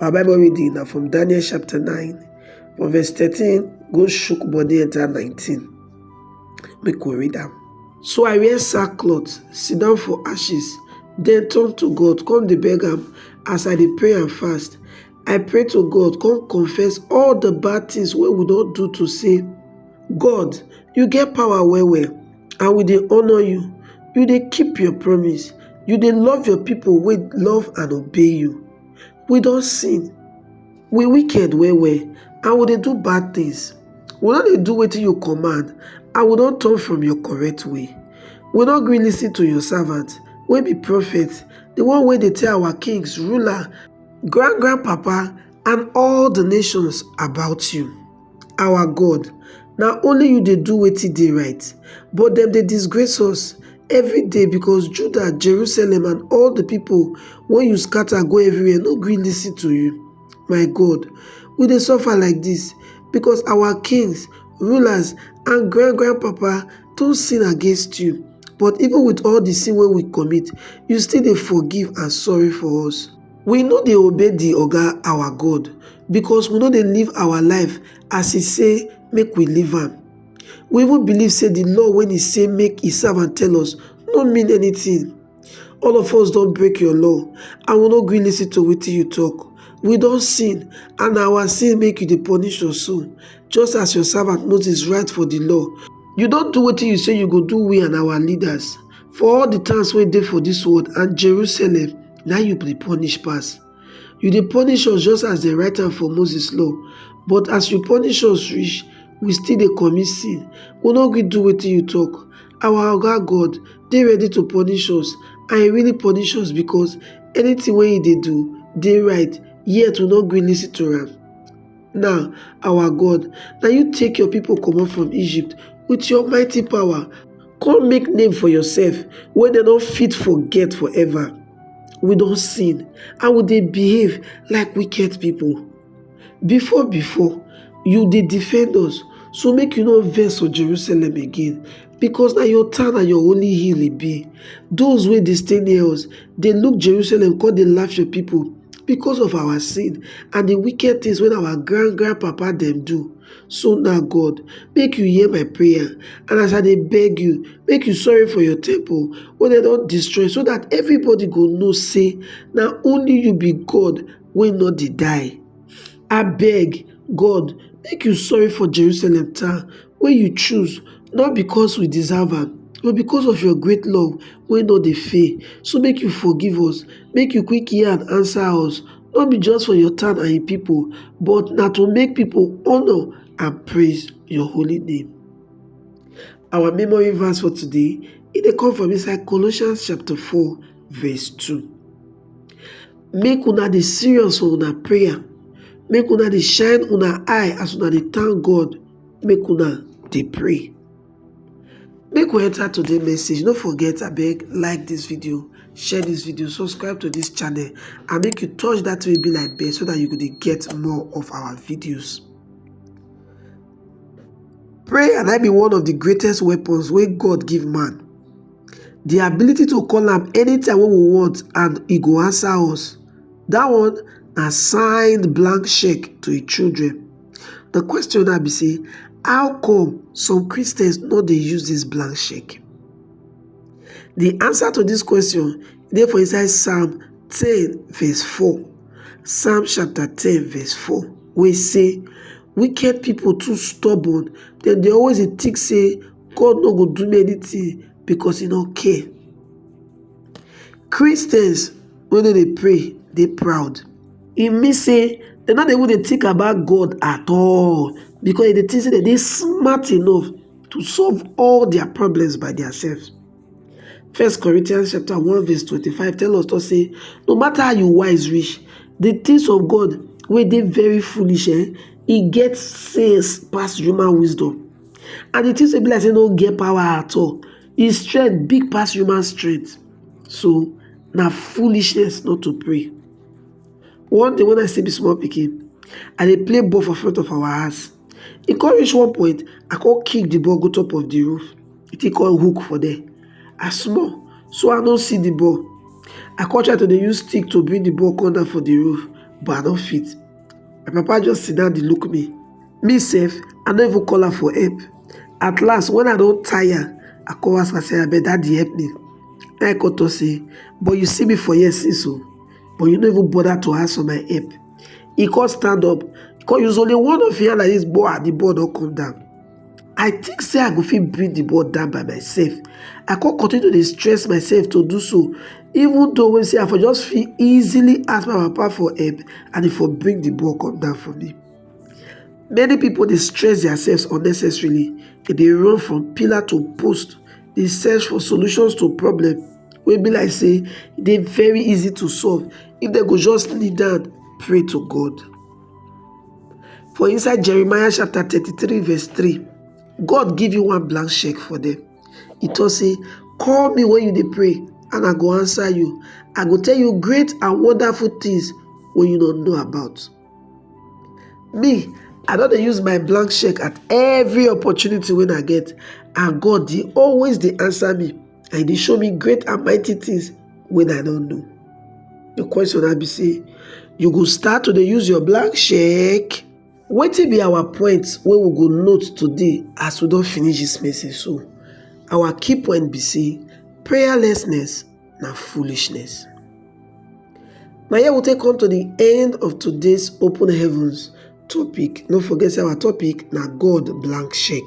Our Bible reading na from Daniel chapter 9 from verse 13 go shook body enter 19. Make we read am. So I wear sackcloth, sit down for ashes, then turn to God, come the beg am as I dey pray and fast. I pray to God, come confess all the bad things wey we don do to say, God, you get power well well. and we dey honour you you dey keep your promise you dey love your pipo wey love and obey you we don sin we wicked well well and we dey do bad tins we no dey do wetin you command and we don turn from your correct way we no gree listen to your servant wey be prophet di one wey dey tell our kings ruler grand grand papa and all di nations about you our god na only you dey do wetin dey right but dem dey disgrace us everyday because judah jerusalem and all the people wey you scatter go everywhere no gree lis ten to you my god we dey suffer like this because our kings rulers and grand grand papa don sin against you but even with all the sin wey we commit you still dey forgive and sorry for us We no dey obey di Oga our God because we no dey live our life as e say make we live am. We even believe say di law wey e say make e servant tell us no mean anything. All of us don break your law and we no gree listen to wetin you talk. We don sin and na our sin make you dey punish us so, just as your servant Moses write for di law. You don do wetin you say you go do we and our leaders for all di towns wey dey for dis world and Jerusalem. na you dey punish pass. You dey punish us just as dem write am for Moses law but as you punish us reach, we still dey commit sin. We no gree do wetin you talk. Our Oga God dey ready to punish us and he really punish us because anything wey he dey do dey right yet we no gree listen to am. Now, our God, na you take your people comot from Egypt with your mighty power. Come make name for yourself wey dem no fit forget forever. We don sin and we dey behave like wicked people. Before before, you dey defend us, so make you no vex for Jerusalem again, because na your town and your holy hill e be. Those wey dey stay near us dey look Jerusalem come dey laugh your people because of our sin and the wicked things wey our grand grand papa dem do. So now, God, make you hear my prayer, and as I dey beg you, make you sorry for your temple wey dem don destroy, so that everybody go know say na only you be God wey no dey die. Abeg, God, make you sorry for Jerusalem town wey you choose, not because we deserve am, but because of your great love wey no dey fail. So make you forgive us, make you quick hear and answer us. no be just for your town and your people, but na to make people honor and praise your holy name. Our memory verse for today, it dey come from inside Colossians chapter 4 verse 2. Make una dey serious for una prayer, make una dey shine una eye as una dey thank God, make una dey pray. make we enter today message no forget abeg like this video share this video subscribe to this channel and make you touch that will be like bell so that you go to get more of our videos prayer and i be one of the greatest weapons where god give man the ability to call him anytime we want and he go answer us that one a signed blank check to his children The question now be say, how come some Christians no dey use this blank check? The answer to this question dey for inside Psalm 10 verse 4. Psalm chapter 10 verse 4 wey say, wicked people too stubborn, dem dey always dey think say God no go do me anything because he no care. Christians wey no dey pray dey proud. E mean say dem no dey even dey think about God at all because dem dey think say dem dey smart enough to solve all their problems by themselves. First Corinthians chapter 1 verse 25 tell us talk say no matter how you wise reach, the things of God wey dey very foolish eh, e get sense pass human wisdom and the things wey be like say no get power at all His strength big pass human strength. So na foolishness not to pray. One day when I still be small pikin, I dey play ball for front of our house. E come reach one point, I come kick the ball go top of the roof. The thing come hook for there. I small, so I no see the ball. I come try to dey use stick to bring the ball come down for the roof, but I no fit. My papa just sit down dey look me. me sef i no even call am for help at last when i don tire i come ask am say abeg daddy help me na i come talk say but you see me for here since o but you no even bother to ask for my help he come stand up he come use only one of him hand like this boa the ball don come down i think say i go fit bring the ball down by myself i come continue to dey stress myself to do so even though wey say i for just fit easily ask my papa for help and he for bring the ball come down for me many pipo dey stress diaself unnecessarily dem dey run from pillar to post dey search for solutions to problem wey be like say e dey very easy to solve if dem go just kneel down pray to God for inside Jeremiah chapter thirty three verse three God give you one blank check for dem e talk say call me when you dey pray and I go answer you I go tell you great and wonderful things wey you no know about. me i don dey use my blank cheque at every opportunity wey i get and god dey always dey answer me and e dey show me great and mighty things wey i no know the question na be say you go start to dey use your blank cheque wetin be our point wey we go note today as we don finish this message so our key point be say prayerlessness na foolishness. Na here we take come to the end of today's open heavens topic. No forget say our topic na God blank check.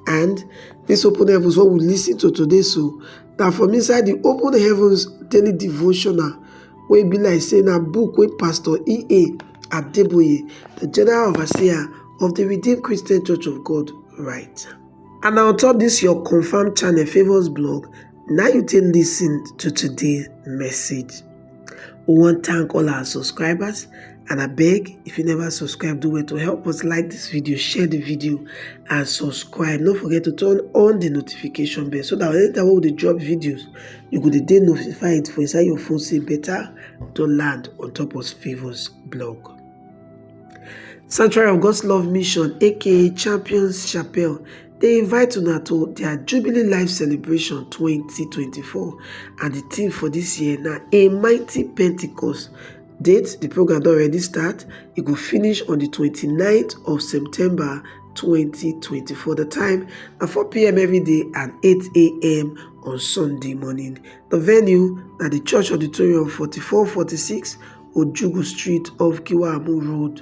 And this open heavens what we listen to today so na from inside the open heavens daily devotional wey be like say na book wey Pastor E.A. Adeboye, the general overseer of the Redeemed Christian Church of God, write. And na on top this your confirmed channel Favours blog Now you take listen to today's message. We want to thank all our subscribers and I beg if you never subscribe, do it to help us like this video, share the video, and subscribe. Don't forget to turn on the notification bell so that anytime we dey drop videos, you go dey notified for inside your phone say better to land on top of Favors blog. Sanctuary of God's Love Mission, aka Champions Chapel, dey invite una to dia jubilee life celebration twenty twenty four and di theme for dis year na a mighty pentecost date di program don already start e go finish on di twenty ninth of september twenty twenty four di time na four pm day and eight am on sunday morning di venue na di church auditorium forty four forty six ojugu street off kiwamu road